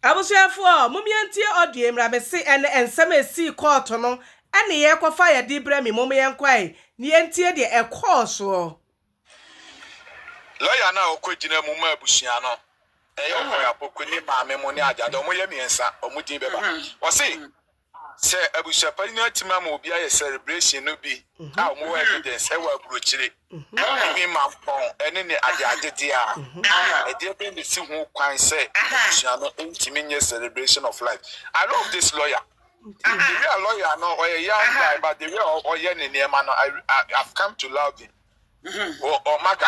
Abusuafoɔ momyɛ ntie audio yi mmra mese ɛnɛ nsɛm a ɛsii kɔɔto no ɛne yɛkɔfa yɛde brɛ me mom yɛnkɔ ae na yɛntie deɛ ɛkɔɔ soɔ. Lawyer no a ɔkɔ gyina mu ma abusua no ɛyɛ Ɔkɔyɛ Apoku ne maame mo ne Agyade ɔmo yɛ miensa ɔmo din bɛba ɔse Sɛ abusuapare no atumi ama obi ayɛ sɛrebrehyen no bi a wɔwɔ evidence wɔ aburokyire, ahumampɔn ne ne adeade deɛ a, ɛdeɛ bɛn na ɛsi ho kwan sɛ abusua no ntumi nyɛ celebration of life? I love this lawyer. The way a lawyer no, ɔyɛ young guy but the way a ɔyɛ ne nneɛma no, I, I, I've come to love him. Ɔ, ɔma da.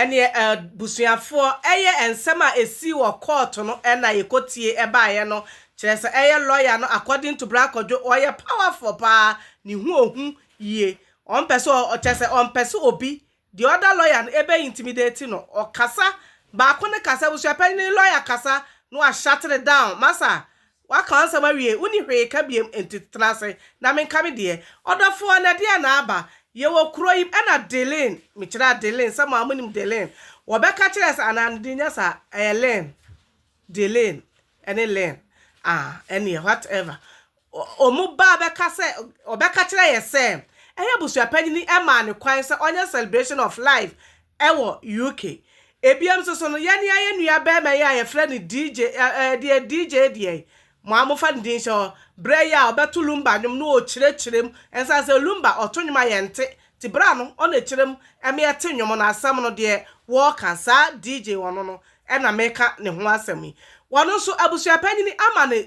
Ɛneɛ abusuafoɔ, ɛyɛ nsɛm a ɛsii wɔ kɔɔto no na yɛkɔtiee baeɛ no, kyerɛ sɛ ɛyɛ lɔya no according to Bra Kwadwo, ɔyɛ powerful paa, ne ho ɔhu yie, ɔmpɛ sɛ, kyerɛ sɛ ɔmpɛ sɛ obi The other lawyer no ɛbɛ intimidate no ɔkasa baako no kasa abusuapanyin no lawyer kasa na wa shut it down masa waka wansɛm awie wonni hwee ka biem nti tena ase na menka me deɛ ɔdɔfoɔ na ɛdeɛn na aba yɛwɔ kuro yim ɛna Delin mekyerɛ Adelin sɛ mo a monim Delin wɔbɛka kyerɛ sɛ anaa ne din nyɛ saa ɛyɛ Lin Delane ne Len a ɛneɛ what ever wɔn ba bɛka sɛ ɔbɛka kyerɛ yɛ sɛ ɛyɛ abusuapanyini maa no kwan sɛ ɔnyɛ celebration of life wɔ UK ebiam nso so no yɛne ayɛ nua bɛɛma yi a yɛfrɛ no DJ ɛɛ deɛ DJ deɛ Mo a mofa no din hyɛ hɔ. Berɛ yi a ɔbɛto Lumba nnwom no ɔkyerɛkyerɛ mu ɛnsan sɛ Lumba ɔto nnwom a yɛnte nti berɛ ano ɔna ɛkyerɛ mu ɛma yɛte nnwom no asɛm no deɛ wɔɔka saa DJ ɔno no ɛna meka ne ho asɛm yi ɔno nso abusuapanyini ama no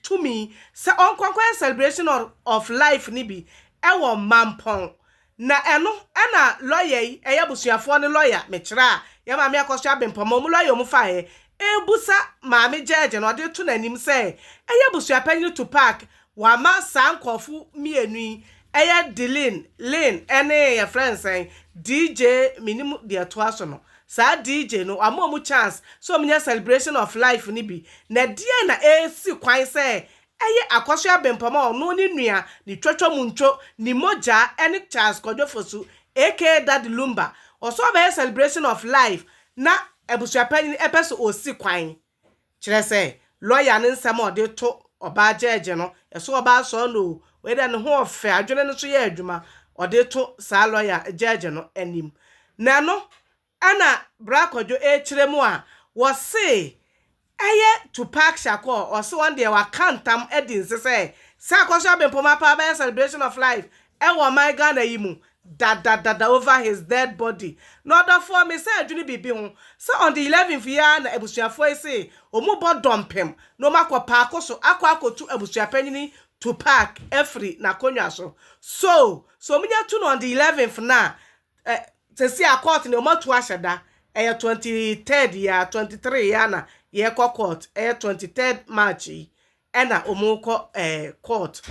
tumi sɛ ɔnkɔ nkɔyɛ celebration of life no bi ɛwɔ Mampɔn Na ɛno na lɔya yi, ɛyɛ abusuafoɔ no lɔya, mekyerɛ a, yɛn Maame Akɔsua Abempɔma, wɔn lɔya a wɔfaeɛ rebusa Maame gyɛɛgye no, ɔde reto n'anim sɛ ɛyɛ abusuapanyin Tupac, wama saa nkurɔfo mmienu yi, ɛyɛ Delin, Lin, ne yɛfrɛ no sɛn, DJ, mennim deɛ ɛtoa so no, saa DJ no, wama wɔn chance sɛ wɔnyɛ celebration of life no bi. Na ɛdeɛn na ɛresi kwan sɛ Ɛyɛ Akwasoɛ Abempam a ɔno ne nua ne Twatwa Muntwo ne mogyaa ɛne Charles Kwadwo Fosu aka Daddy Lumba ɔsɛ ɔbɛyɛ celebration of life na abusuapanyin ɛpɛ sɛ ɔsi kwan kyerɛ sɛ lɔya no nsɛm a ɔde to ɔbaa gyɛɛgye no ɛso ɔbaa sɔɔ no o wei deɛ ne ho ɔfɛ adwene no nso yɛ adwuma ɔde to saa lɔya gyɛɛgye no anim na ɛno Ɛna Bra Kwadwo ɛrekyerɛ mu a, wɔse ɛyɛ Tupac Shakur, ɔse ɔno deɛ waka ntam adi nse sɛ sɛ Akwasoa Bempɔm Apaw bɛyɛ celebration of life ɛwɔ ɔman Ghana yi mu dadadada over his dead body. Na ɔdɔfoɔ, me san dwene biribi ho, sɛ on the eleventh yi ara na abusuafoɔ yi se wɔn bɔ dɔmpem na wɔn akɔ paako so akɔ akɔtu abusuapanyini Tupac afiri n'akonnwa so. So, sɛ wɔn nya tu no on the eleventh no a, ɛ sɛsi a court no wɔatu ahyɛ da ɛyɛ twenty third yi ara twenty three yi ara na yɛrekɔ court ɛyɛ twenty third march yi ɛna wɔrekɔ ɛɛ court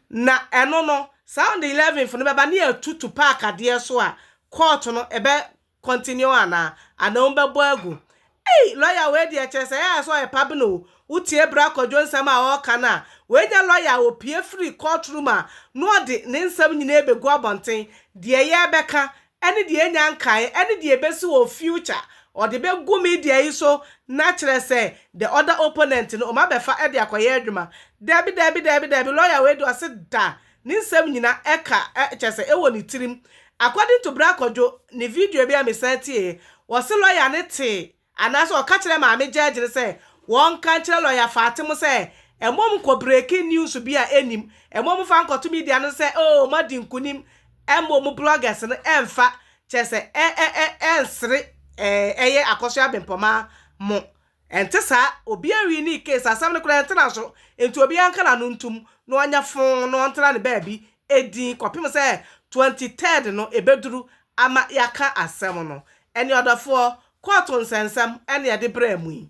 na ɛno no saa on the eleventh no bɛba ne yɛatutu park adeɛ so a court no ɛbɛ continue anaa anaa wɔbɛbɔ agu Ei lɔya wei deɛ kyerɛ sɛ ɛyɛ a sɛ ɔyɛ pabn o, wotie bra kwadwo nsɛm a ɔreka no a, wei nyɛ lɔya a ɔpue firi court room a na ɔde ne nsɛm nyinaa bɛgu abɔnten, deɛ yɛrebɛka ɛne deɛ ɛnya nkaeɛ ɛne deɛ ɛbɛsi wɔ future ɔde bɛgu media yi so na kyerɛ sɛ the other opponent no wɔabɛfa de akɔyɛ adwuma, dabi dabi dabi dabi lɔya wei deɛ ɔse da Ne nsɛm nyina ɛka ɛ kyɛsɛ ɛwɔ ne tirim according to Bra Kwadwo ne video bi a me san tieɛ wɔse lɔya no tee anaasɛ ɔka kyerɛ maame judge no sɛ wɔnka nkyerɛ lɔya Fatim sɛ ɛmom nkɔ breaking news bi a ɛnim ɛmom mfa nkɔto media no sɛ oo moadi nkunim ɛmom bloggers no ɛmfa kyɛsɛ ɛ ɛ ɛ ɛnsere ɛɛ ɛyɛ akɔsoɛ abempɔmaa mo Ɛnte saa, obiara wii ne case, asɛm no koraa ɛntena so, enti obiara nka n'ano ntom na ɔnyɛ foo na ɔntena ne baabi dinn kɔpem sɛ 23rd no ɛbɛduru ama yɛaka asɛm no. Ɛnneɛ ɔdɔfoɔ, kɔɔto nsɛnsɛm na yɛde brɛɛ mo yi.